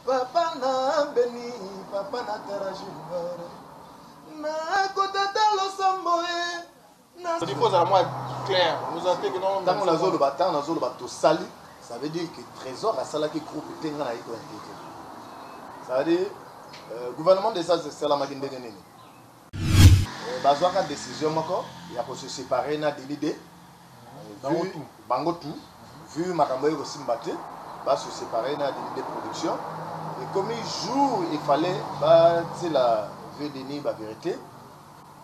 Papa na beni, papa na tera junior Na kotata losambo e Na Diko za mwa clair, nous a teke non Tango na zolo ba, tango na zolo ba tosali Ça veut dire que Trésor asalaki groupe te nga na iko invité Ça veut dire, euh, gouvernement des Etats esalamaki ndenge nini Bazuaka decision moko ya ko se separer na Denis de bango tout vu makambo eko simba te ba se separer na Denis de production ekomi jour il fallait ba tiela vieux Denis ba verite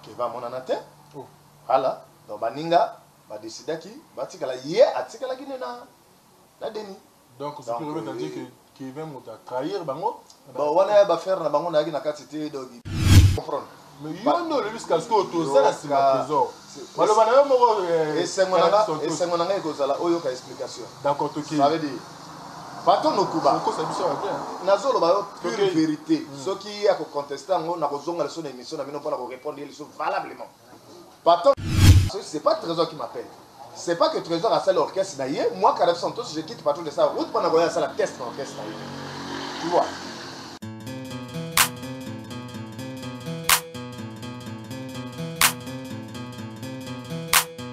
que ba monana te hala donc baninga ba decidaki ba tikala ye atikalaki nde na Denis Donc ce qui revient à dire que Kevin mutu a trahir bango. Bon wana ya ba ferre na bango nayaki na kati te donc comprendre. Mais yo nde olobi sika sikoyo toza na sima trésor. Maloba na yo moko esengo na nga esengo na nga ekozala oyoka explication. D'accord tokeyi. Ça veut dire bato nokuba okosa biso ya bien nazoloba yo pure vérité soki ye akoconteste yango nakozonga liso na émission na bino mpo na korépondre ye liso valablement Pardon c'est pas trésor qui m'appelle c'est pas que trésor asali orchestre na ye moi carab santos je quitte patron de sa route mpona koya asala test na orchestre na ye tu vois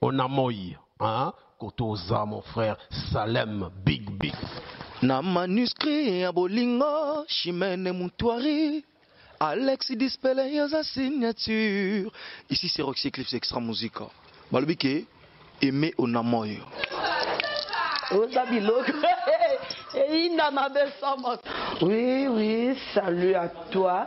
On a moi haa koto oza mon frère Salem big big. Na manuscrit ya bolingo Chimene Mutuari Alex Dispele yo oza signature Ici c'est Roxy Eclipse Extra Musica Balobi ke Aime on a moi Oza biloko eyinda mabe sans moto. Oui oui salut à toi.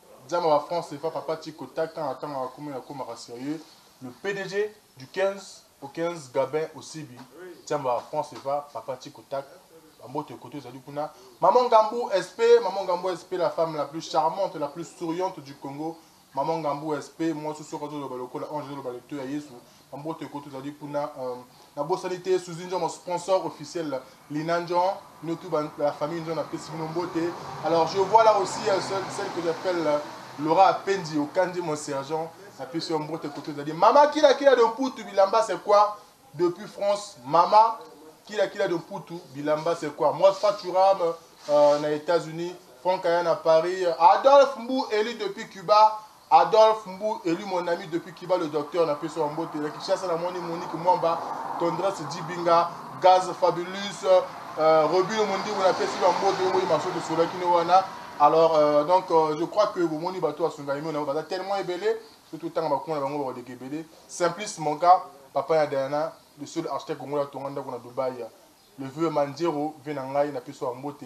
Diamba ba franc cfa papa chico ta kanga kanga akomi na komaka serieux le pdg du 15 au 15 gabin osibi diamba ba franc cfa papa chico ta ba mbote kote ozali kuna maman ngambu sp maman ngambu sp la femme la plus charmante la plus souriante du congo maman ngambu sp mwasi soki azoloba lokola ange azoloba litoya yesu Mbote ko tozali kuna na bosani te Souzy Ndjoma sponsor officiel Lina Ndjon bino tout ba la famille Ndjon na pesi bino mbote alors je vois là aussi celle que j'appelle Laura Apendi Okandi mon sergent na pesi yo mbote ko tozali mama kila kila de Mputu bilamba c'est quoi depuis France mama kila kila de Mputu bilamba c'est quoi moi Faturam euh, na États-Unis Franck Ayana Paris Adolphe Mbu Eli depuis Cuba Adolphe Mbu elu mon ami depuis Cuba le docteur na pesi yo mbote na Kinshasa na moni Monique Mwamba, Tendresse Dibinga, Gaz Fabulous, euh, Robino Mondimbu na pesi ba mbote yo boyi maso to sola kino wana alors euh, donc euh, je crois que bo moni bato asunga emi na baza tellement ebele to to tanga ba kuna na bango ba wadege ebele simplice mon gars papa ya Diana le seul architecte congolais atonga ndako na Dubaï le vieux Manjero vie na ngai na pesi yo mbote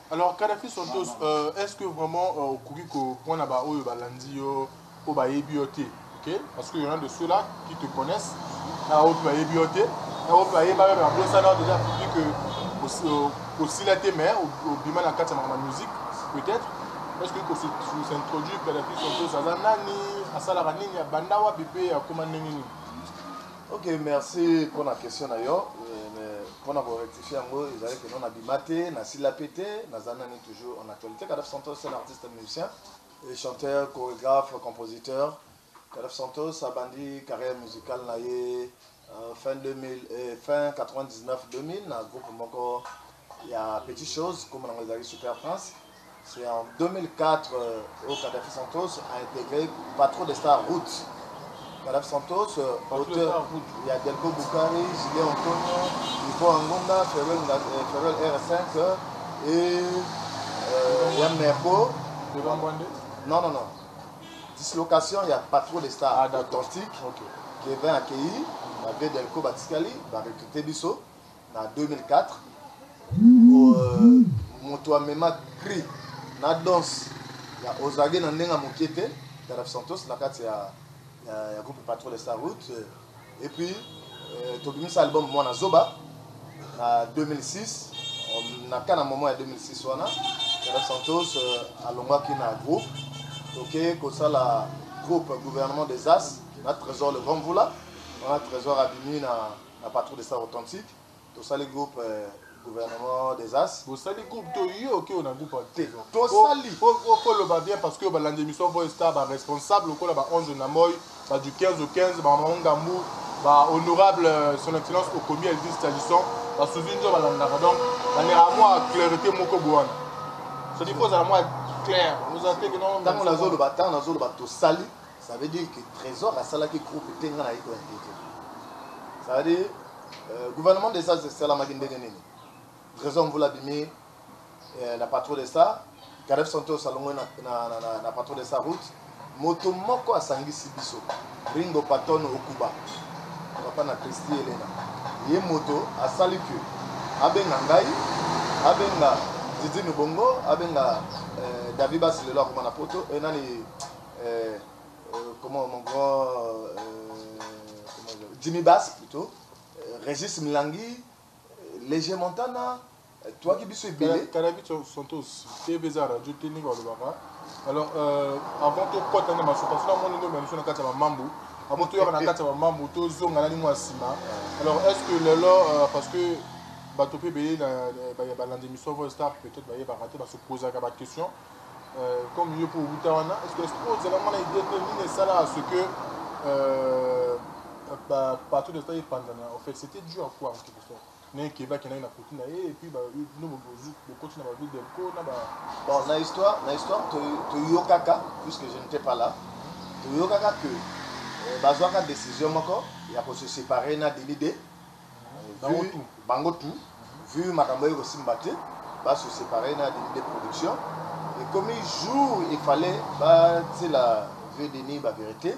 Alors Kadhafi Santos, euh, est-ce que vraiment euh, okoki kopona ba oyo balandi yo oyo bayebi yo te ok parce que y'en a de ceux-là qui te connaissent na oyo mpe bayebi yo te na oyo mpe bayeba yo babosana déjà public que euh, osila te mais obima na kati ya makambo ya musique peut-être est-ce que kosintroduire Kadhafi Santos aza nani asalaka nini abanda wapi mpe akoma ndenge nini Ok merci pona question na yo mais pona ko rectifier yango ezali que non nabima te nasila pe te naza nani toujours en actualité Kadaf Santos c'est un artiste musicien et chanteur chorégraphe compositeur Kadaf Santos abandi carrière musicale na ye euh, fin 2000 eh, fin 99 2000 na groupe moko ya petit chose kombo nango ezalaki super prince c'est en 2004 oyo Kadhafi Santos a integre patron de star route Kadhafi Santos auteur ya Delco Bukari Julien Antonio Ivo Angonda Ferrel Ferrel R5 et euh, ya Merbo non non non dislocation ya patron de star ah, authentique okay. Kevin Akeyi ba Vedelco batikali ba recruter biso na 2004 euh, moto amema cri na danse ya ozage na ndenge ya moke te daref santos na kati ya, ya, ya groupe patrol star route et puis euh, tobimisa album mwana zoba na 2006 na ka na moment ya 2006 wana daref santos euh, alongwaki na groupe toke kosala groupe gouvernement des as na trésor le grand mvula wana trésor abimi na Na patrouille des stars authentiques, tosali groupe gouvernement des as. Bosali groupe to yo oke ona groupe en te. Tosali. Oko loba bien parce que balandi émission Voice Star ba responsable lokola ba Ange na Moy, ba du 15 au 15, ba Maman Ngambu, ba honorable euh, son excellence Okomi Elvis Talisson, ba Suzy Njo balandaka donc na ne amwa clarté moko boana. C'est-à-dire faut la moi clair. Vous avez que non. Tango na zolo ba tango na zolo ba tosali. Ça veut dire que Trésor asalaki groupe te nga nayebi ko inquiéter. Ça veut dire euh, gouvernement de ça esalamaki ndenge nini? Trésor Mvula bimi euh, na patron de ça, Gareth Santos alongwe na, na, na, na, na patron de ça route. Moto moko asangisi biso Ringo Patton Okuba papa na Christy Elena ye moto asali que abenga ngai abenga Didi Nubongo abenga euh, David Basilelo akoma na poto euh, nani euh, euh, comment mon grand euh, Jimmy Bass plutôt euh, Régis Milangi Léger Montana toyaki biso ebele kalabi santos tv eza radio te ndenge balobaka alors euh, avant tokɔta nde masuka sona moni ndombe biso na kati ya bamambu avant toyaka na kati ya bamambu tozonga na lingo ya nsima alors est ce que lelo euh, parce que bato mpe beye balandi misoko star peut-être bayebaka te basopozaka baquestion Euh, comme yo pour wuta wana est-ce que sport zala mwana idée te nini esala à ce que euh, ba partout de ça epandana en fait c'était dû à quoi en quelque sorte naye keba akendaki na koti na ye epuis bino bokoti na babi delco na ba bon na histoire na histoire toyokaka puisque je n'étais pas là toyokaka que euh, bazwaka décision moko ya ko se séparer na delide vu bango tout vu makambo eko simba te ba se separer na Denide production ekomi jour il fallait ba tiela vieux Denis ba verite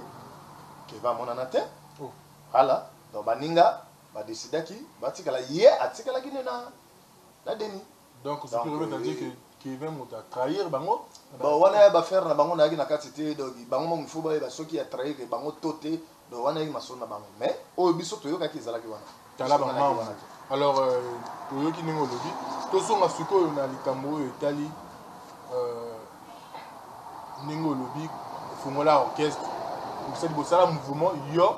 que ba monana te hala donc baninga ba decidaki ba tikala ye atikalaki nde na Denis Donc ce qui revient à dire que Kevin mutu a trahir bango Bon wana ya ba ferre na bango nayaki na kati te donc bango moko il faut bayeba soki a trahir bango to te donc wana eyaki masolo na bango mais oyo biso toyokaki ezalaki wana tala ba mambo alors euh, toyoki ndenge olobi tozonga sikoyo na likambo oyo etali euh, ndenge olobi fongola orchestre osali bosala mouvement yo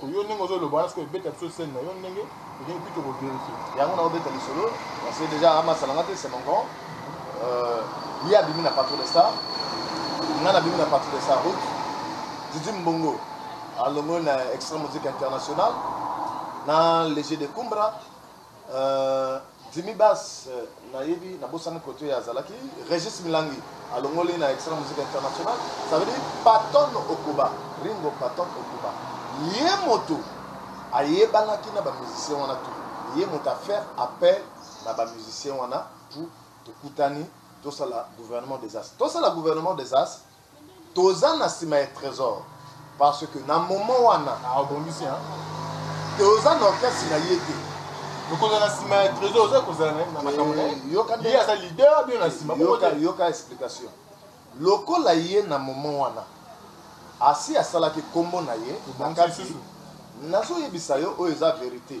Ko yo ndenge ozo loba wana sikoyo beta biso scène na yo ndenge olingi puis toko verifier. Yango na obeta lisolo parce que dejà ama salanga te c'est mon grand euh, ye abimi na patron de star nga nabimi na patron de star route Didi Mbongo alongoli na extra musique international na léger de Kumbra Euh Jimmy Bass na yebi na bosani kote ya zalaki Regis Milangi alongoli na Extra Musique International ça veut dire Patton Okuba Ringo Patton Okuba ye moto ayebanaki na ba musiciens wana tout ye moto a faire appel na ba musiciens wana tout tokutani tosala gouvernement des as tosala gouvernement des as Toza na sima ya tresor parce que na moment wana abongisi hein toza na orchestre na ye te. Okozala na sima ya tresor oza kozala na makambo na ye. Yoka nde aza leader bino na sima. Yoka yoka explication lokola ye na moment wana asi asalaki kombo na ye na kati nazoyebisa yo oyo eza verite.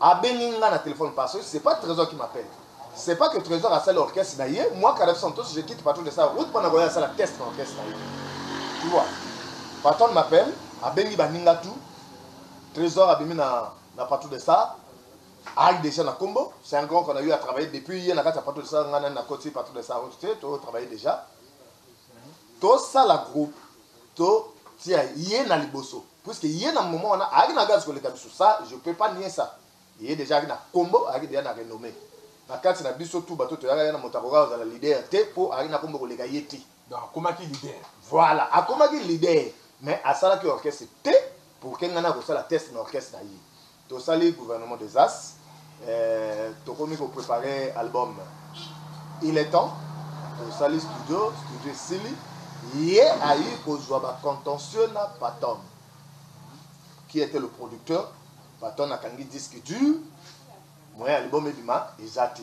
Abengi nga na telephone parce que c'est pas tresor qui m'appelle c'est pas que tresor asali orchestre na ye moi Carnaval Santos je quitte patron de sa route pona koya asala test na orchestre na ye tu vois patron de m'appelle abengi baninga tout tresor abimi na na patron de sa ayi déjà na kombo c'est un grand qu'on a eu à travailler depuis ye na kati ya patron de sa nga nani na koti patron de sa route te to travailler déjà to sala groupe to tia ye na liboso puisque ye na moment wana ayaki na gaz koleka biso ça je peux pas nier ça ye dejà ayaki na kombo ayaki dejà na renomme na kati na biso tout bato toyaka ye na moto akoka kozala leader te po ayaki na kombo koleka ye te donc akomaki leader voilà akomaki leader mais asalaki orchestre te pour que nga nakosala test na orchestre na ye. Tosali gouvernement des as eh, tokomi ko preparer album il est temps, tosali studio, studio esili, ye ayi kozwa ba contentieux na Patton qui était le producteur, Patton akangi disque dur, moyen album ebima eza te.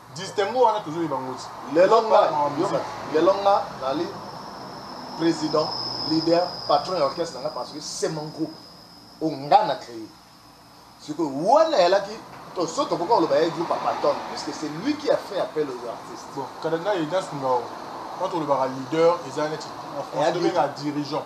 Distinguo wana tozo yeba ngo ti lelo nga lelo nga nazali president leader patron ya orchestre na nga parce que c'est mon groupe oyo nga na cree sikoyo wana eyalaki to so tokoka koloba ya groupe ya patton puisque c'est lui qui a fait appel aux artistes bon kada ngai edas ngao wana tolobaka leader eza neti na français tobengaka dirigeant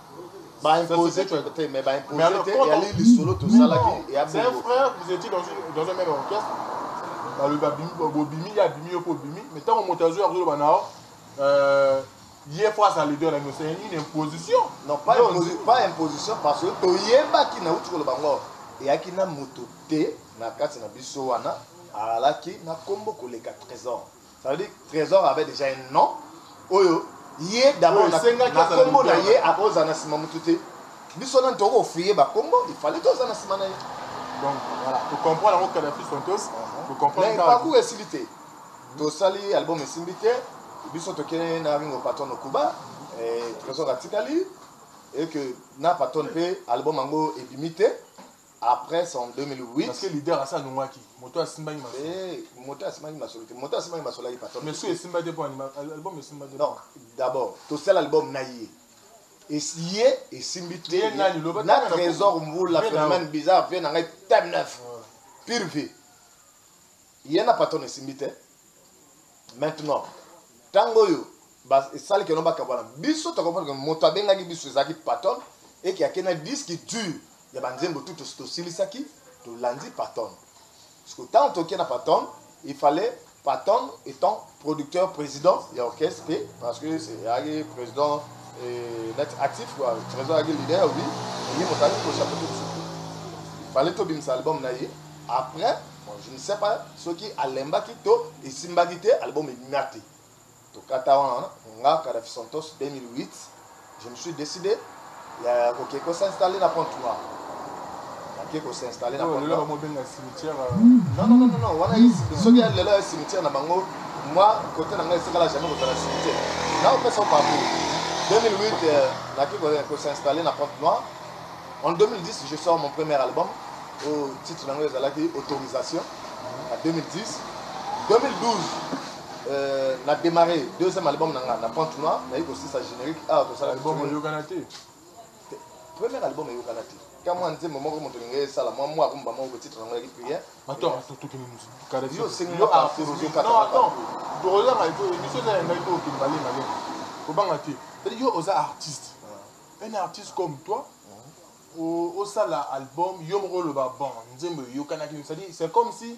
Ba imposer tu étais mais ba imposer te ya li lisolo to salaki ya C'est un frère, vous étiez dans une dans un même orchestre. Ba le ba bimi ba bimi ya bimi yo po bimi mais tant moto azo ya ko ba nao euh ye faut sa leader la nous c'est une imposition. Non pas imposition pas imposition parce que to yebaki na uti ko ba ngo eyaki na moto te na kati na biso wana alaki na kombo koleka trésor Ça veut dire Tresor avait déjà un nom oyo ye d'abord na kombo na ye akozala na nsima motu te biso nani tokoki ofriye bakombo il fallait toza na nsima na ye donc voilà tocomprendre yango kadafi santos mais parcours esili te tosali album esimbi te biso tokende na ringo patron au cuba trésor atikali et que na patron mpe album yango ebimi te après son 2008 parce que leader asa alongwaki moto asimbaki masolo eh moto asimbaki masolo te moto asimbaki masolo ayi patron mais soki esimba te mpo album esimba te non d'abord tosala album na ye ye esimbi te na trésor mbula phénomène bizarre vie na ngai time neuf pire vie Ye na patron esimbi te maintenant tango oyo ba esali keno ba kabwana biso to comprendre que moto abengaki biso ezalaki patron et que akena disque dur ya ba nzembo tout to silisaki to landi patron parce que tango toke na patron il fallait patron étant producteur president ya orchestre te parce que ayaki president net actif quoi president ayaki leader oui ye moto ayaki kochapeauter biso te fallait tobimisa album na ye après bon je ne sais pas soki alembaki to esimbaki te album ebima te tokata wana nga kadafi santos 2008 Je me suis decide ya koke ko s'installer na Pointe Noire. Nake ko s'installer na Pointe Noire. Babenga cimetière. Non non non non, wana soki ya lelo ya cimetière na bango, moi côté na ngai etikala jamais kozala cimetière. Nao pesa parcours. 2008 euh, nake ko s'installer na Pointe Noire. En 2010, je sors mon premier album au titre na ngai ezalaki autorisation. En 2010, 2012 Euh, na démarré deuxième album na nga na pente noire naye kosilisa générique awa tosala album eyokana te première album eyokana te ka mwa nzembo moko moto olinga esala mwa mwa rumba moko titre yango yaki prière yo osengi okozokataaoyanga eko emission eza ya ngai to okende malemale kobanga te yo oza artiste ah. un artiste comme toi ah. osala album yo moko oloba bon nzembo eyokanaki c'est comme si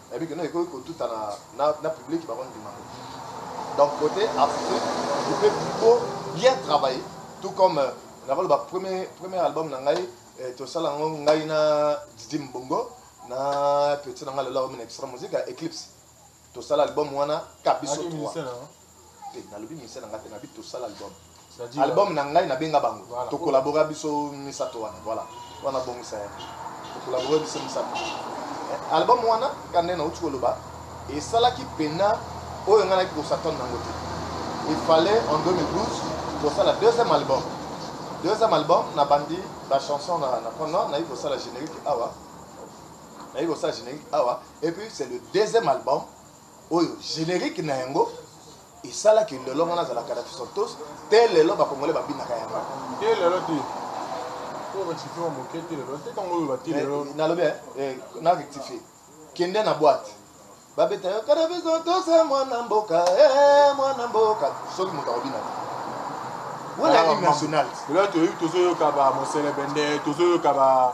Nayebi que non ekoki kotutana na, na public bako ndima te. Donc cote artistique, je peux plutôt bien travailler tout comme euh, nakoloba premier premier album na ngai eh, tosala yango ngai na Didi Mbongo na petit na ngai lelo akomi na extra musique ya Eclipse tosala album wana Kabiso 3 te nalobi musicien nanga te nabi tosala album album na ngai nabenga bango voilà. tokolabora biso misato wana voilà wana bongisa ya tokolabora biso misato eh, album wana kande nauti koloba esalaki pena oyo ngai naki kosatane nango te il fallait en 2012 kosala deuxième album deuxième album nabandi bachanson na prendre nayi kosala générique awa nayi kosala générique awa et puis c'est le deuxième album oyo generique na yango esala ke lelo nga nazala kadafi santos te lelo bakongole babinaka yango te lelo te nalobi eh, eh, na rectifie kende na boite babeta yo kadafi santos eh, mwana mboka mwana mboka soki moto akobina te wana hymne nationale lelo toyoki tozoyoka ba moselebende tozoyoka ba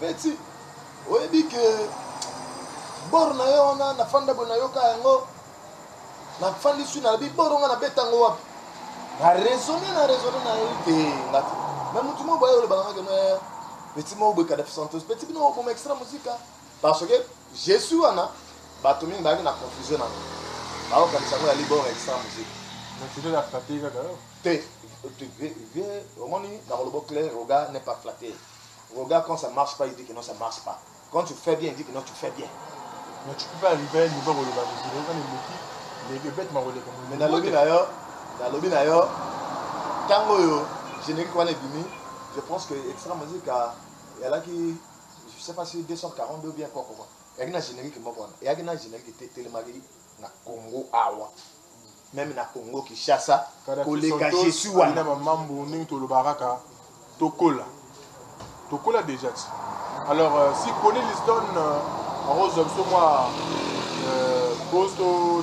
petit oyebi ke bor na yo wana nafanda boye nayoka yango nafandi sui na bi bor onga nabeta yango wapi na raisonne na raisonne na yo te nga te me motu moko boye olobaka ngake me petit moko boye kadafi santos petit bino oboma extra musika Parce que Jesus wana bato mingi bayaki na confusion na yango baokanisa yango ya libor extra musique naturel ya flatte kaka yo te omoni na kolobo clair roga n'est pas flatte roga quand ça marche pas il dit que non ça marche pas quand tu fais bien il dit que non tu fais bien mais tu peux pas arriver à un niveau koloba kozila yoka na eleki leke bete makoleka mais nalobi na yo nalobi na yo ntango oyo générique wana ebimi je pense que extra musique alaki Je sais pas si 242 ou bien quoi quoi. Yaki na générique moko wana. Yaki na générique te telemaki na Congo awa. Même na Congo Kinshasa koleka je suis wana. Na mambo ndenge tolobaka ka tokola. Tokola déjà ti. Alors euh, si Kone Liston euh, arose biso mwa euh, posto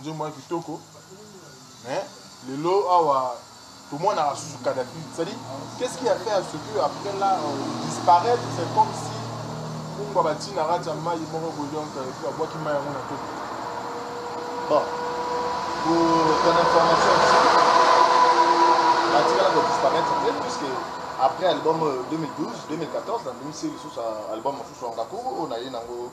Nzembo wana kitoko mais lelo awa tomonaka susu Kadhafi c'est à dire qu'est-ce qui a fait à ce que après là euh, disparaître c'est comme si kumba bati na kati ya mayi moko boye donc euh, epuis babwaki mayi yango na toko bon pour ton information aussi batikala kodisparaître te puisque après album 2012 2014 nandimisi lisusu album mosusu ya ngakuru oyo naye nango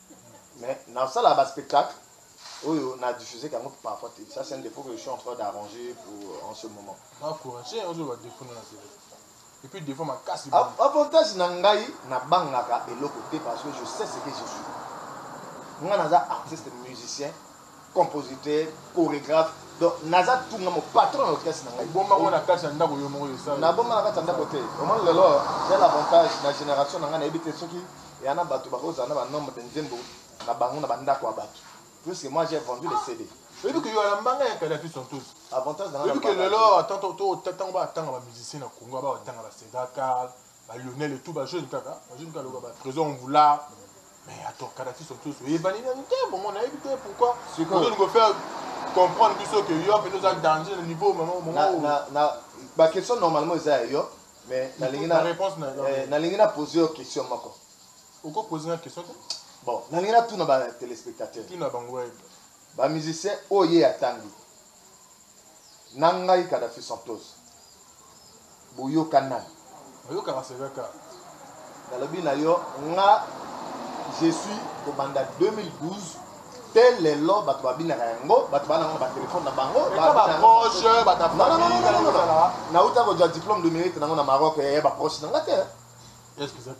Mais na sala ba spectacle oyo na diffuser kango parfois te ça c'est un defaut que je suis en train d'arranger pour en ce moment. Na courage ozo ba defaut na tele. Et puis defaut makasi. Avantage na ngai na bangaka eloko te parce que je sais ce que je suis. Nga naza artiste musicien. compositeur choregraphe donc naza tout nga mo patron na orchestre na ngai obomba ngo na kati ya ndako yo moko yo sala na bomba na kati ya ndako te omoni lelo j'ai l'avantage na generation na ngai na yebi te soki ya na batu bako zala na ba nombre de nzembo na bango na ba ndako ya batu puisque moi j'ai vendu les CD oyebi ke yo na mbanga ya kala tu sont tous avantage na ngai oyebi ke lelo tanto to tango ba tanga ba musiciens na Congo ba tanga ba Cedar Carl ba Lionel et tout ba jeune kaka ba jeune kaka ba trésor mvula mais attends Kadhafi son tous et bani na nte bon on a évité pourquoi c'est quoi on faire comprendre biso que yo peut être danger le niveau maman maman na na ba question normalement eza yo mais na lingi na réponse na eh, na lingi na poser yo question moko oko poser na question bon na lingi na tout na ba téléspectateurs tout na bango ba musiciens oye atangi Na ngai Kadaffi Santos boyokanan. Oyokaka Sega Carte. Nalobi na yo nga je suis kobanda 2012 te lelo batu ba binaka ya ngo batu ba nango na ba telephone na bango ba ba proche ba ta non non non non na uta ko ja diplome de mérite nango na Maroc ya ba proche na nga te est-ce que ça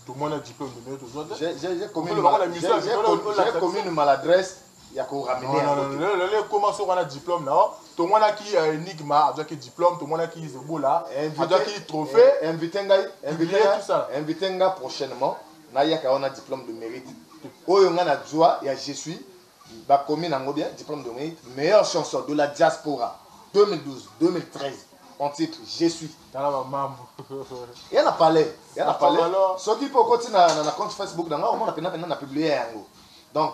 tout moi na diplome de mérite ozwa te j'ai j'ai commis j'ai commis une maladresse ya ko ramener yango te. Non, non, lelo ekoma soki wana diplome na yo. Tomonaki euh, Enigma azwaki diplome, tomonaki Zebola azwaki trophée. Eh, invite ngai, invite ngai, invite ngai prochainement nayaka wana diplome de mérite. Oyo ngai nazwa ya je suis bakomi nango bien diplome de mérite meilleure chanson de la diaspora 2012 2013 en titre je suis tala bamambo ya na palais ya na palais soki mpe okoti na compte facebook na ngai omona mpena mpena na publie yango donc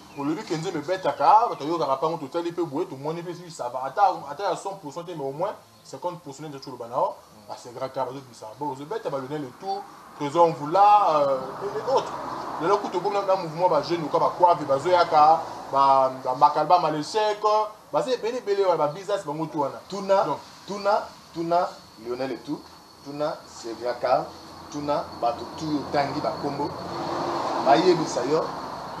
Olobi que nzembo ebetaka, batu ayokaka pango totali pe boye tomoni pe soki ça va ata ata ya 100% te mais au moins 50% neti oloba na yo ba segra ka bazo bisa bo ozo beta ba Lionel et tout Trésor Mvula euh, et, et autres lelo kutu okomi na mouvement ba jeunes lokola ba Kwavi bazo yaka ba ba Makalba Malechek baza ebele ebele wana ba business bango tout wana tuna tuna tuna Lionel et tout Tuna Sevia Carl, tuna batu tout yo tangi ba kombo ba yebisa yo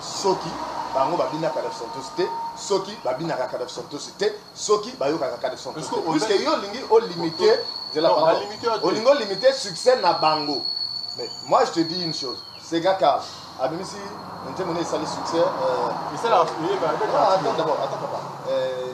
soki bango ba bina Kadaf Santos te, soki ba binaka Kadaf Santos te, soki ba yokaka Kadaf Santos te. Puisque yo olingi o limite, zela pardon, olingi o limite succès na bango. Mais moi je te dis une chose, Sevia Carl abimisi nzembo ne esali succès euh, Esala, ah, attends d'abord, attends papa. Euh,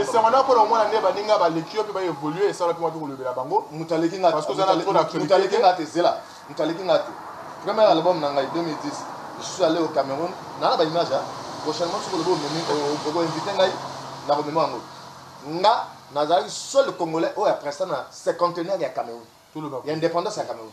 Esanga na pona omona nde baninga baleki yo mpe ba evolue esala mpe watu kolobela bango moto aleki nga te zela moto aleki nga te première album na ngai 2010 je suis allé au Cameroun na na ba image prochainement soki olobi omemi oko invite ngai na komema yango nga nazalaki seul congolais oyo apresta na cinquantenaire ya Cameroun ya indépendance ya Cameroun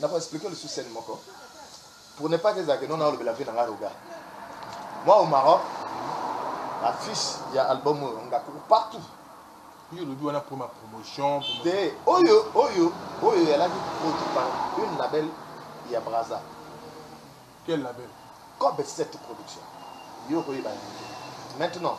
Na ko expliquer yo lisusu scène moko pour ne pas que ezala que non na olobela vie na nga Roga. Moi au Maroc affiche ya album oyo nga kuku partout yo olobi wana pour ma promotion te oyo oyo oyo yalaki produit par une label ya braza quel label cob 7 production yo okoyeba yango maintenant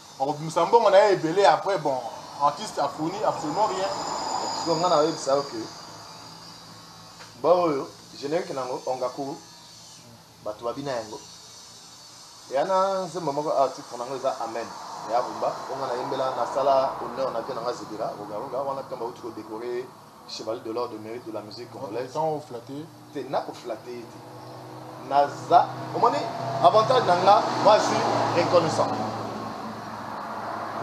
Bakobimisa mbongo naye ebele après bon artiste a fourni absolument rien. Sikoyo nga na yebisa yo que ba oyo generique nango Ongaku batu ba bina yango eya na nzembo moko awa titre nango eza amen eya rumba po nga na yembela na sala honneur na vie nanga zebira roga roga wana tango bawuti ko decorer chevalier de l'ordre de mérite de la musique congolaise tant au flatter te na ko flatter ye te naza omoni avantage na nga moi je suis reconnaissant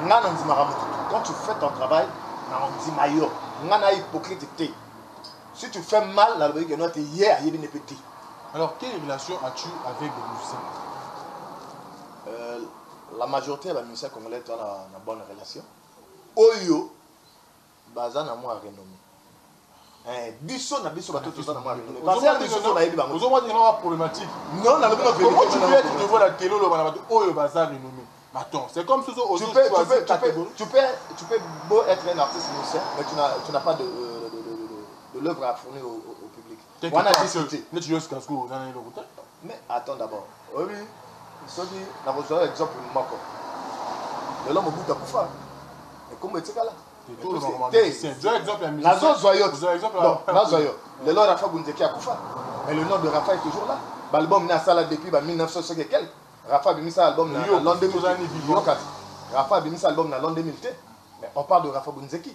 nga na ndimaka motu quand tu fais ton travail na ondima yo nga na hypocrite te si tu fais mal na lobaki keno te ye ayebi ne pe te alors quelle relation as-tu avec le musicien euh, la majorité ya bamusicien congolais toa na, na bonne relation oyo baza na mwa renome eh, biso na biso bato toza na mwa renome concert biso to nayebi bango ozo mwana na problématique non na lobi na vérité comment tu peux être devant la télé loba na bato oyo baza renome Attends, c'est comme si tu, tu, peux, tu, peux, tu, peux, tu, peux, tu peux beau être un artiste musicien, mais tu n'as pas de, euh, de, de, de, de l'œuvre à fournir au, au, au public. wana biso te neti yo sikasku oza na eloko te mais attends d'abord oyebi soki nakozwa exemple moko lelo mobutu akufa ekombo etikala nazozwa yo nazwa yo lelo rafa bunzeki akufa mais le nom de rafa est toujours là baalbum ne asala depuis ba 1900 soki ekel rafa abimisa album na lon 2000 rafa abimisa album na lon 2000 te mais on parle de rafa bunzeki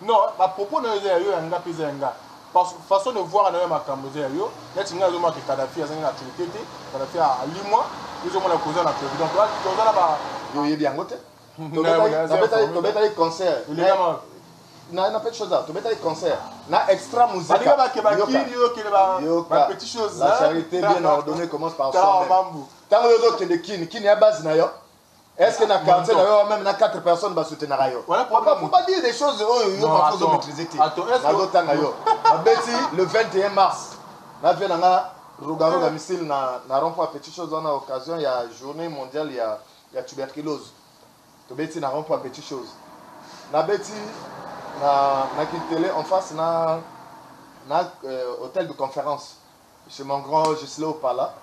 Non ba propos nayo eza ya yo ya nga pe eza ya nga façon de voir nayo ya makambu eza ya yo neti nga nazomona ke Kadhafi azangi na actualite te Kadhafi alimua yo ozomona ke oza na actualite donc toza na ba yo oyebi yango te tobetaki concert na na petit chose tobetaki concert na extra musique balinga bake bakili yo kele ba ba petit chose la charité bien ordonnée commence par soi même tango yo zo kende kin kin ya base na yo Est-ce que na quartier na yo même na quatre personnes ba soutenaka yo? Voilà pourquoi faut pas dire des choses oyo yo ba faut maîtriser te. Na zo tanga yo. Na beti le 21 mars. Na vie na nga ruga ruga missile na na rond point petit chose on a occasion ya journée mondiale ya ya tuberculose. To beti na rond point petit chose. Na beti na na kitele en face na na euh, hôtel de conférence. Chez mon grand Gisle Opala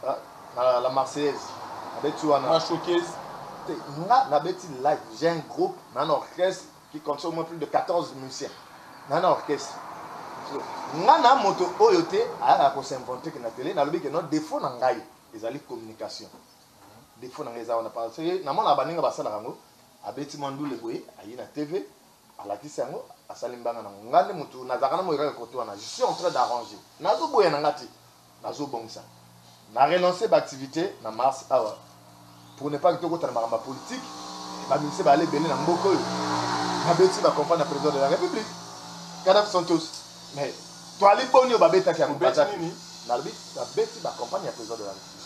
na la Marseillaise na beti wana. Na showcase. Te nga na beti live, j'ai un groupe na na orchestre qui contient au moins plus de 14 musiciens na na orchestre. Nga na moto oyo te ayaka ko s'inventer que na tele, na lobi que non defaut na ngai ezali communication. Defaut na ngai eza wana parce que na monaka baninga basalaka yango, abeti mwa ndule boye aye na TV, Alakisi yango asali mbanga nango nga nde mutu nazalaka na moyokaka kote wana je suis en train d'arranger nazo boya nanga te nazo bongisa na relancer ba activite na mars awa pour ne pas que tokota na makambo ya politique ba musiciens ba aller bele na mboka oyo na beti ba comprendre na president de la republique Kadaf Santos mais toali boni oyo ba betaki yango bazaki nalobi ba beti ba comprendre ya president de la republique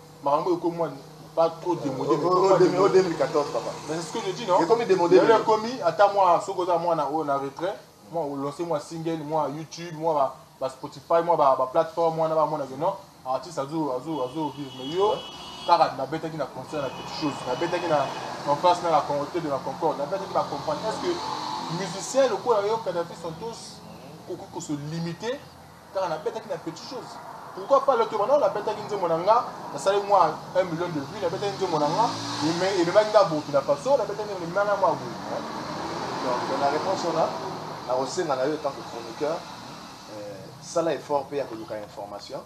Makambo oyo ekomi mua pas trop demode mais ekomi mua demode. Oyo 2014 papa. Mais c'est ce que je dis non. Ekomi demode. Lelo ekomi ata mua soki oza muana oyo na retrait mua o lancer mua single mua YouTube mua ba ba Spotify mua ba ba plateforme wana ba mona que non artiste azo azo azo vivre mais yo kaka na betaki na concert na quelque chose na betaki na en face na la Hotel de la Concorde na betaki ba compagnie est-ce que musicien lokola yo Kadhafi Santos okoki ko se limiter Kaka na betaki na petit chose pourquoi pas le tour non na betaki nzembo na nga na sali mwa 1 million de vues na betaki nzembo na nga mais et même nga Burkina Faso na betaki nzembo na nga mwa boye donc na réponse on a na kosenga na yo tant que chroniqueur euh, sala effort pe ya koluka information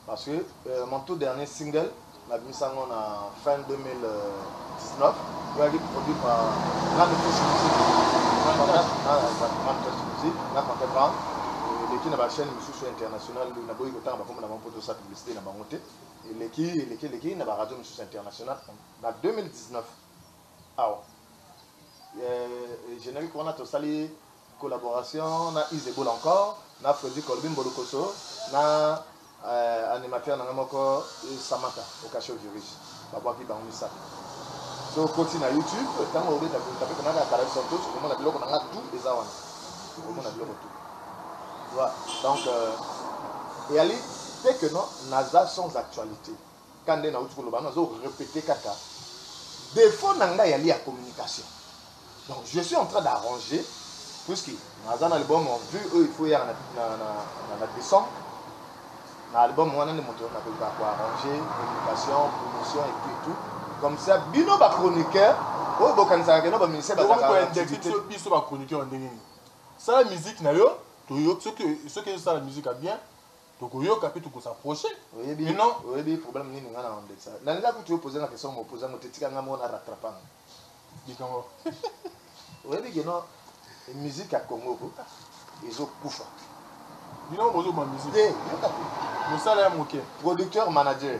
parce que euh, mon tout dernier single Nabimisi yango na fin 2019. Eyaki produit par Grande Touche Musique, Grande Touche Musique na Conte Brown. Eleki na ba chaines misusu ya international, naboyi kotanga bakombo na bango mpo tosala publicite na bango te. Eleki, eleki, eleki na ba radios misusu ya international. Na 2019, awa, eh, generique wana tosali, Collaboration na Ize Boule encore na Freddy Colby Mbolukoso na animateur na ngai moko Samata Okasho Virige babwaki bango misato. Soki okoti na YouTube tango obeta boule tape koma kaka Carel Santos okomona biloko na ngai tout eza wana. Okomona biloko tout. Tu vois donc euh, eyali te que non naza sans actualite. Ka nde nauti koloba nazo repeter kaka defaut na ngai yali ya communication donc je suis en train d'arranger puisque naza na album en vue oyo il faut yaka na, na, na, na, na décembre na album wana nde moto nakoka koarranger communication promotion et puis tout comme ça bino ba chroniqueur oyo bokanisaka keno baministère bazalaka biso ba chroniqueur ndenge nini sala musique na yo soki ezosala musique ya bien tokoyoka pe toko s'approcher oyebi mais non oyebi problème nini nga na ondekisa na linga kutu yo poser nga question mo poser ngo te tika nga mo na rattraper nga likambo oyebi que non musique ya Congo ko ezo kufa bino bozo ba musique te yoka te musala ya moke producteur manager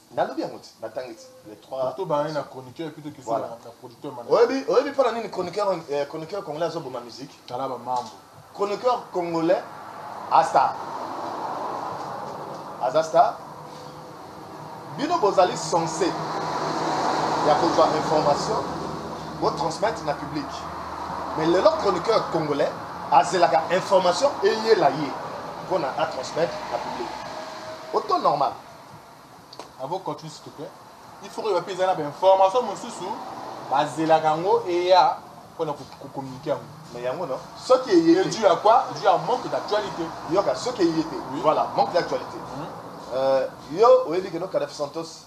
Nalobi yango ti, natangi ti les trois. Poto ba ye na chroniqueur plutôt que voilà na producteur manager. Oyebi oyebi pona nini chroniqueur eh, chroniqueur congolais azo boma musique? Tala ba mambo. Chroniqueur congolais a star. Aza star. Bino bozali censé ya kozwa information bo transmettre na public. Mais lelo chroniqueur congolais azelaka information eyela ye pona a transmettre na public. Auto normal. Avocat tu s'il te plaît. Il faut que ba pesa na ba information mosusu bazelaka yango eya pona ko communiquer yango. Mais yango non. Soki eye te. Dû à quoi? Dû à manque d'actualité. Yoka soki eye te. Oui. Voilà, manque d'actualité. Mm -hmm. Euh, yo oyebi que no Kadhafi Santos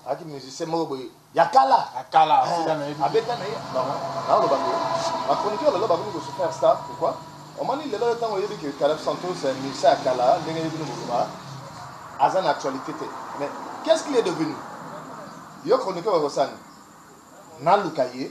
aki musicien moko boye ya kala ya kala tika na ye abeta na ye na loba ngo ba chroniqueur lelo ba ko super star pourquoi omoni lelo yo tango yebi que Caleb Santos c'est musicien ya kala ndenge yebi no boloba aza na actualité te mais qu'est-ce qu'il est devenu yo chroniqueur ba kosani na luka ye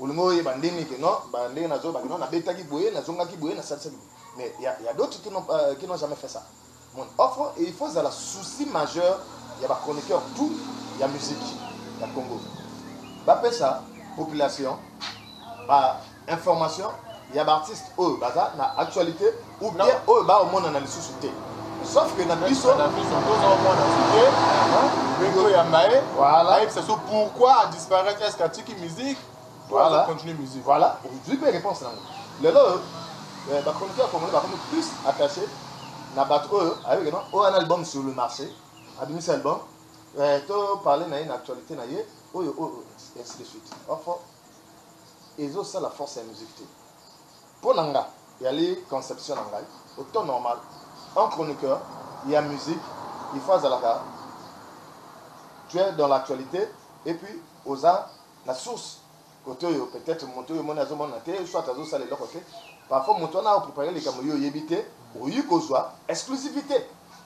Olingi oyeba ndenge que non ba ndenge na zongaki non na betaki boye na zongaki boye na salisaki boye mais ya ya d'autres qui n'ont euh, qui n'ont jamais fait ça mon offre et il faut zala souci majeur ya ba chroniqueur tout ya musique ya Congo ba pesa population ba information ya ba artistes oyo baza na actualité ou bien oyo ba omona na lisusu te sauf que na biso na biso tozo omona te beko ya mbaye voilà et ça pourquoi a disparaître est-ce qu'atiki musique voilà continue musique voilà je peux répondre ça lelo euh, ba chroniqueurs congolais ba comme plus attaché na bato oyo ayoki no oyo ana album sur le marché abimisi album euh, to parle na ye na actualité na ye oyo oyo ainsi de suite orfo ezosala force ya musique te Po na nga, eali conception na ngai, au temps normal, un chroniqueur ya musique il faut azalaka tu es dans l'actualite et puis oza na source cote oyo peut etre mutu oyo omoni azo mona te soit azo sala eloko te, parfois mutu wana ako preparer likambo yo oyebi te, okoki kozua exclusivite.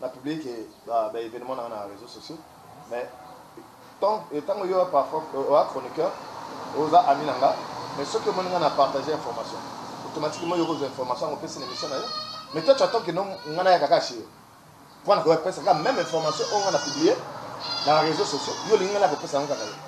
Na publique ba evenements na nga na reseaux sociaux mais tango yo parfois oa chroniqueur oza ami na nga mais soki omoni nga na partager information automatiquement yo okozua information yango opesi na emission na yo mais toi tu attends que non nga nayaka kaka chez yo po na kopesa kaka meme information oyo nga na publier na reseaux sociaux yo olingi nga naya kopesa yango kaka yo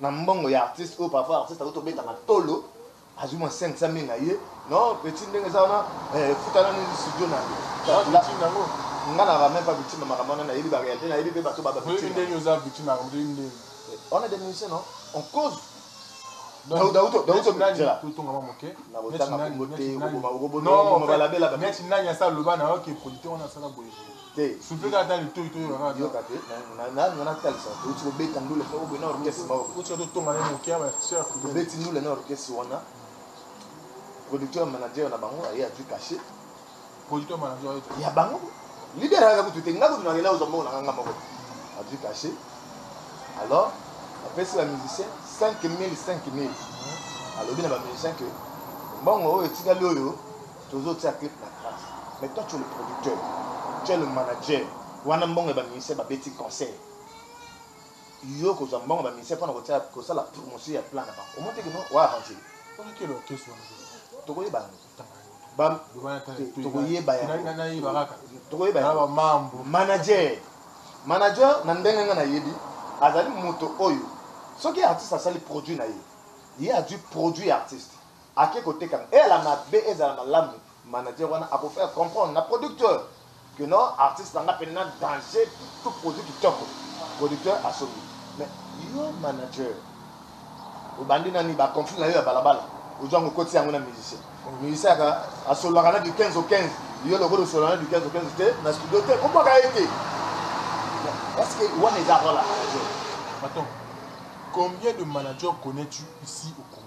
na mbongo ya artiste oyo parfois artiste azo tobeta matolo azwi mwa 500 mille na ye non petit ndenge eza wana eh, futa nani studio na yo nga na ramène pas victime makambo wana nayebi ba réalité nayebi pe bato ba ba victime ndenge oza victime makambo ndenge ndenge on est des musiciens non on cause neti nani asala loba na yo ke polite wana asala boye Te. Souffle kaka ata litoyi to yoka kaka. Yoka te. Na na na na talisa. Touti ko beta ndule ko bena orchestre mao. Touti ko tonga na mokia ba sœur. Beti ndule na orchestre wana. Producteur manager na bango aye azui cachet. Producteur manager aye. Ya bango. Leader aka kutu te nga kutu na kenda ozwa mbongo na nga moko. Azui cachet. Alors, apesi ba musiciens 5000 5000. Alobi na ba musiciens que mbongo oyo etikali oyo Tozo tia clip na grace mais toi tu es le producteur, tu es le manager wana mbongo ya ba musiciens ba beti concert yo oko zwa mbongo ya ba musiciens pona kotia ko sala promotion ya plan na bango omoni te que non o arranger ye? Wana quel orchestre wana eza? Toko yeba yango te. Tanga yango te. Ba Loba na tanga te. Toko yeba yango. Na na na yeba kaka. Toko yeba yango. Na ba mambo. Manager. Manager na ndenge nga na yebi azali moto oyo soki artiste asali produit na ye ye a dû produit artiste Ake koteka na eyala mabe ezala malamu manager wana ako faire comprendre na producteur que non artiste na nga penna danger to produit kitoko producteur asombi mais yo manager obandi nani ba conflit na yo ya balabala ozwa ngo koti yango na musicien musicien aka asololaka na du 15 au 15 yo lokola osolola na du 15 au 15 te na studio te kobwaka ye te parce que wana eza role ya manager Attends, combien de managers connais-tu ici au Congo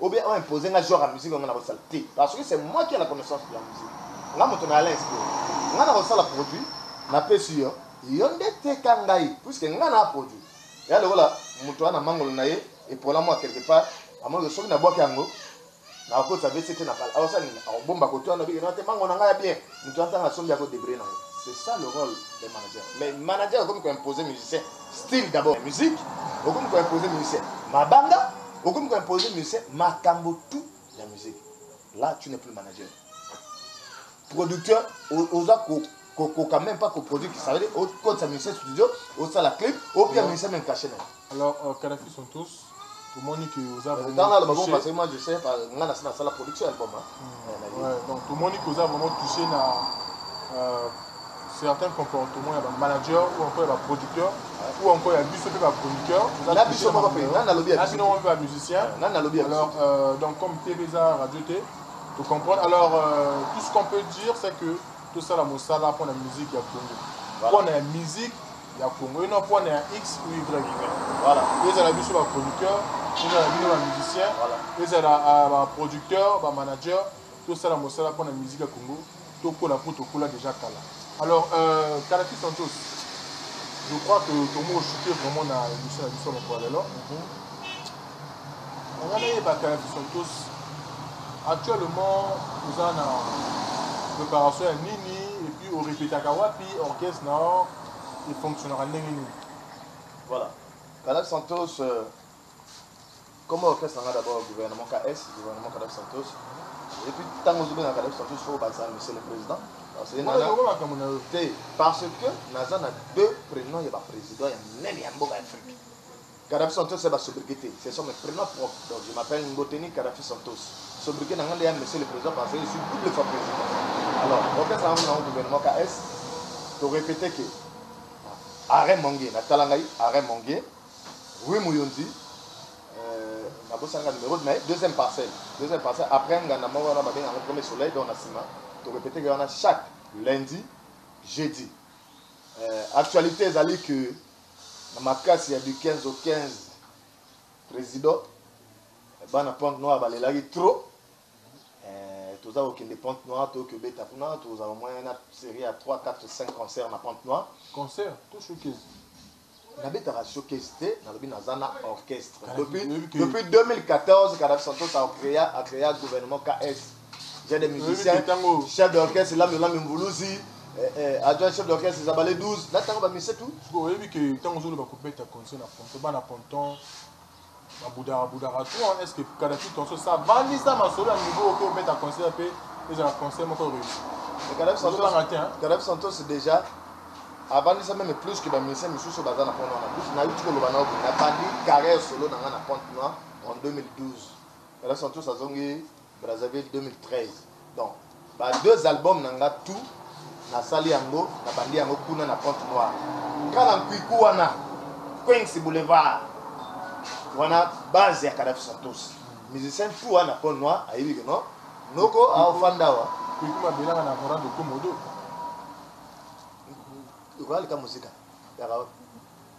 Ou bien o imposer nga genre ya musique oyo nga nako sala te parce que c'est moi qui a la connaissance de la musique. Nga moto na Alain Esprit. Nga nako sala produit na pesi yo, yo nde teka ngai puisque nga na produit. Eya lokola moto wana mangolo na ye epola mua quelque part, amoni que soki na buaki yango nako kotisa wc te na bala. Ako sala nini? Ako bomba koto wana obiki non te mangolo na nga ya bien. Moto wana tango asombi ako debrouiller na ye. C'est ça le role d'un manager. Mais manager akomi ko imposer musicien. style d'abord ya musique okomi ko imposer musicien mabanga okomi ko imposer musicien makambo tout ya musique là tu n'es plus manager producteur oza ko kokoka même pas koproduire ça veut dire okotisa musicien studio osala clip opia musicien même cache naye alors euh, kadafi sont tous tomoni ke oza tomoni ke oza vraiment touché na euh, certains comportements ya bamanager ou encore ya baproducteur ou encore ya biso mpe bachroniqueur nabino mpe bamusicien alors euh, donc comme tv eza radio te tocomprendre alors euh, tout ce qu'on peut dire c'est que tosala mosala mpo na musique ya congo mpo na ya musique ya Congo ino po na ya X ou Y voilà ezala biso ba chroniqueurs ezala bino ba musiciens voilà ezala euh, ba producteurs ba managers tosala mosala po na musique ya Congo tokola po tokola déjà kala alors euh, Kalaki Santos je crois que tomo osuki vraiment na émission ya biso mokolo lelo mhm. Nanga nayebaka ya Fisontos actuellement oza na préparation ya nini et puis o repetaka wapi orchestre na yo e fonctionnaka ndenge nini? Voilà. Kalavi Santos euh, comme orchestre nanga d'abord gouvernement KS, gouvernement Kalavi Santos. Et puis tango ozo benga Kalavi Santos faut obakisa monsieur le président. Parce que Wana nana yango makambo na yo. te parce que naza na deux prénoms ya ba président ya minene ya mboka ya Afrique. Kadafi Santos ya ba sobriquet te, ce sont mes prenoms propres donc je m'appelle Ngoteni Kadafi Santos. Sobriquet na nga nde ya Monsieur le President parce que je suis double fois President. Alors, orchestre na nga gouvernement KS, to répéter que Arrêt Mongue, na tala ngai Arrêt Mongue, Rue Muyonzi, euh, na bosana nga numéro de mais deuxième parcelle, deuxième parcelle après nga na moko wana ba benga premier soleil donc na sima, to répéter que wana chaque lundi, jeudi. Euh, actualité ezali que Na makasi ya du 15 au 15 president bana pointe noire balelaki trop eh, toza kokende pointe noire toyoki obeta kuna tokozala moyen na serie ya 3 4 5 concert na pointe noire concert to showcase nabetaka showcase te nalobi naza na orchestre depuis, depuis 2014 kadafi santos acrea acrea gouvernement ks J'ai des musiciens, chef d'orchestre, Lame Lame Mvuluzi, eh, eh, adjoint chef d'orchestre Zabale 12, là tango ba musiciens tout. Siko oyebi que tango zolo ba kubeta concert na Ponto, bana Ponton, ba budara budara tout, hein, est-ce que kada tout en ça vandi ça ma solo niveau au kubeta concert pe, ils ont un concert moko réussi. Et Kadab Santos, Kadab Santos déjà, avant ça même plus que ba musiciens misusu baza na Ponto na plus, na yuti ko loba na obi, na bandi carrière solo na nga na Ponto na en 2012. Kadab Santos azongi Brazzaville 2013 donc ba deux albums na nga tout na sali yango na bandi yango kuna na Pointe Noire nga na Nkuiku wana Queens Boulevard wana base ya Kadhafi Santos musicien tout wana na Pointe Noire ayebi que non noko aofanda wa Nkuiku mabelaka na Laurent Dokomodo okoyalika muzika yaka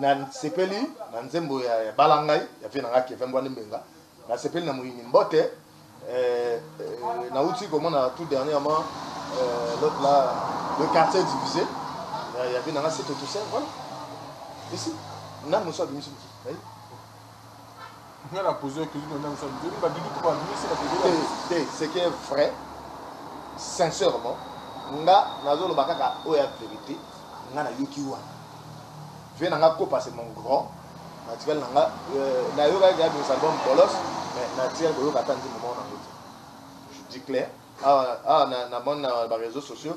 Na sepeli na nzembo ya bala ngai ya vie na nga Kevin Mbwande Mbenga na sepeli na moyini mbote euh, na uti komona tout dernièrement euh, l'autre là le quartier divisé ya vie na nga c'est tout ça voilà ici nanu so abimisi mosusu ce qui est vrai sincèrement nga nazoloba kaka oyo ya vérité nga nayoki wana vie na nga kopa c'est mon grand natikali na nga euh, nayokaki ya bimisa album bolos mais natikali koyoka ata nzimbo moko nango te je dis clair awa ah, ah, na moni na baréseau sociaux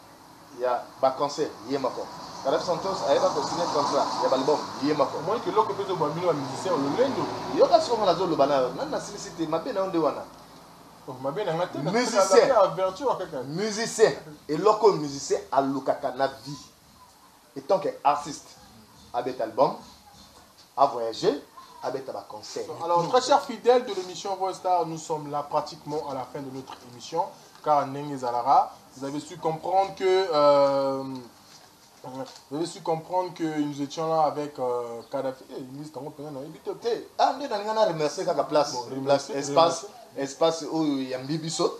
ya ba concert ye moko Kadhafi Santos ayeba ko signe contrat ya b'album ye moko. Omoni kiloko pe ezo boma bino ba musiciens o lolendo. Yoka sikoyo nga nazo loba nayo nanu nasilisi te mabe nayo nde wana. Oh mabe na nga te na pesa ka pe averture kaka. Musicien eloko oyo musicien alukaka na vie. Etant que artiste abeta album, a voyager, abeta ba concerts. Alors très chers fidèles de l'emission Voice Star, nous sommes là pratiquement à la fin de notre emission car ndenge ezalaka, vous avez su comprendre que euh, vous avez su comprendre que nous étions là avec euh, Kadhafi. Eh, hey, liste tango pena na ebito te. Ah, nde na ngana remercier kaka place, bon, place espace, espace oyo ya mbibiso.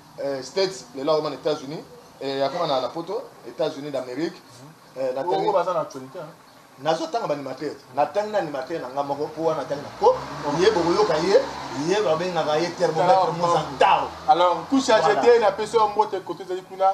eh, states lelo akoma na etats unis eh, akoma na, na poto etats unis d'amérique eh, natangi baza na actualité hein? nazotanga baanimateur natangi na animateur na ngai moko mpo wana natangi na po ye bokoyoka ye ye babengaka ye termometre mozantao alors kusha jete napesi yo mbote koto ezali kuna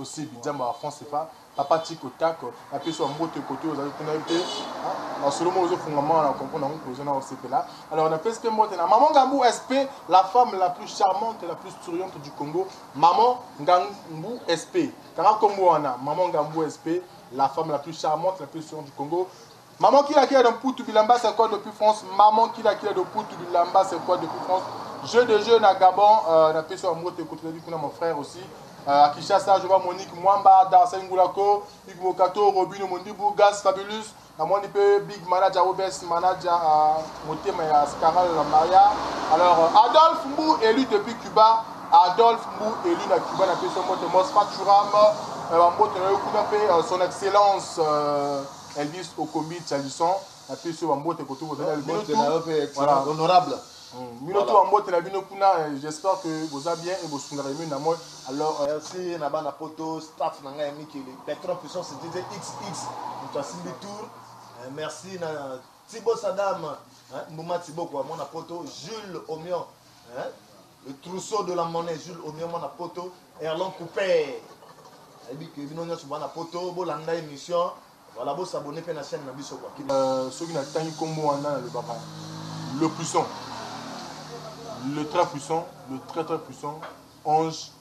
Ose bidzamba wa franc cfa papa tiko tako na pesi wa mbote kote ozali kuna yo te masolo moko ezo fungwama awa na comprendre yango mpozo na osepela alors na pesi pe mbote na maman ngambu sp la femme la plus charmante la plus souriante du congo maman ngambu sp kanga kombo wana maman ngambu sp la femme la plus charmante la plus souriante du congo Maman kila kila de mputu bilamba c'est quoi depuis France maman kila kila de mputu bilamba c'est quoi depuis France jeu de jeu na Gabon euh, na pesi wa mbote ko tulabi kuna mon frère aussi euh, à Kinshasa je vois Monique Mwamba Darcy Ngulako Hugues Bokato Robino Mondibu Gas Fabulous na moni pe big manager OBS manager euh, motema ya Scaral la Maria alors euh, Adolphe Mbu élu depuis Cuba Adolphe Mbu élu na Cuba na pesi wa mbote Mosfa Churam euh, mbote na yo kuna pe euh, son excellence euh, Elvis Okombi Calison, napesi yo bambote koto kozali na bino tout. Voilà. Honorable. Bino tout bambote na bino kuna, j'espère que boza bien et bosundaka Emile na moi. Alors. Merci na bana poto, staff na ngai ya Mikili, Petron Puissance DJ XX, moto asimbi tour. Merci na Thibo Sadam, Mbuma Thibokwa, mwana poto, Jules Omion. Le trousseau de la monnaie Jules Omie mwana poto Erlon Cooper ayebi que bino nyonso bana poto bolanda emission voilà bo s'abonner mpe na chaîne na biso quoi. Euh, soki natangi nkombo wana nalobaka le puissant le très puissant le très très puissant ange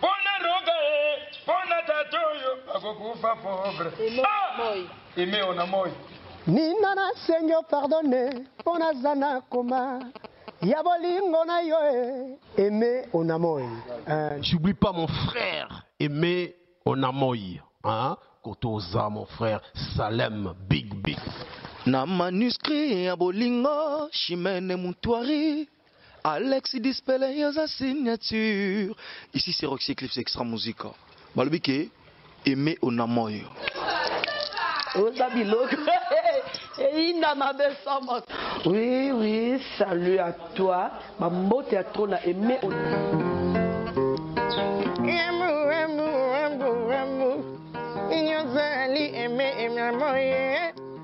Pona roga e pona tata oyo akokufa pauvre ah emeo na moi nina na sengi opardone mpo naza na koma ya bolingo na yo e eme onamoi j'oublie pas mon frère eme onamoi hein? koto oza mon frère salem big big na manuscrit ya bolingo chimene mutuari Alex Dispele yo oza signature. Ici c'est Roxy Eclipse Extra Musica. Balobi ke aime onamoyo. Oza biloko. eyinda mabe sans moto. Oui, oui, salut à toi. Ba mbote ya trop na aime onamoyo.